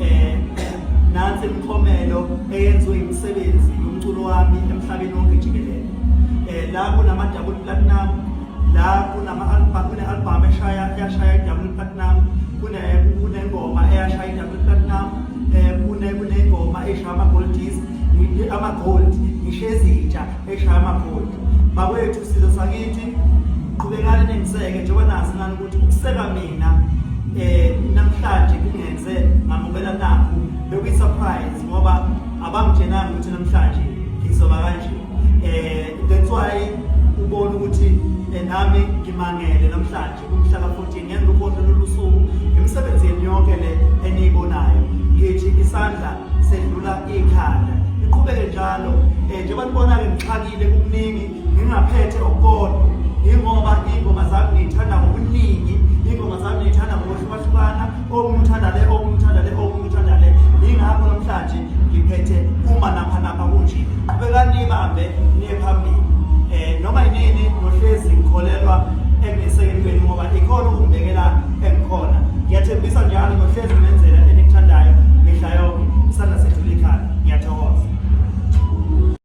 eh, eh, nansi imiklomelo eyenziwe imisebenzi yomculo wami emhlabeni wonke jikelele eh, la kunama-double platinum la kune-albhamu eshaya yashaya i-double platinum kunengoma eyashaya i-double platinum um kunengoma eshaya ama-gold dis ama-gold ngisho ezintsha eshaya ama-gold bakwethu sizo sakithi qhubekani nengiseke njengoba nazi nani ukuseka mina eh namhlanje kungenze ngamukela nakho bekuyi surprise ngoba abangitshenanga ukuthi namhlanje ngizoba kanje eh that's why ubona ukuthi eh, nami ngimangele namhlanje umhlaka 14 ngenza ukhohle lolusuku imisebenzi yenu yonke le eniyibonayo ngithi isandla sedlula ikhanda iqhubeke njalo eh njengoba nibona ke ngixakile kukuningi ngingaphethe okukodwa yingoba iy'ngoma zami ngiyithanda ngobuningi iy'ngoma zami ngiyithanda ngokuhlukahlukana okungithanda le okungithanda le okungithanda le yingakho namhlanje ngiphethe uma napha napha kunje qhubekani niyibambe niye phambili um noma yinini nohlezi ngikholelwa ekunesekeni kwenu ngoba ikhona ukungibekela engikhona ngiyathembisa njalo nohlezi nenzela enikuthandayo mihla yonke isandla sethu likhanda ngiyathokoza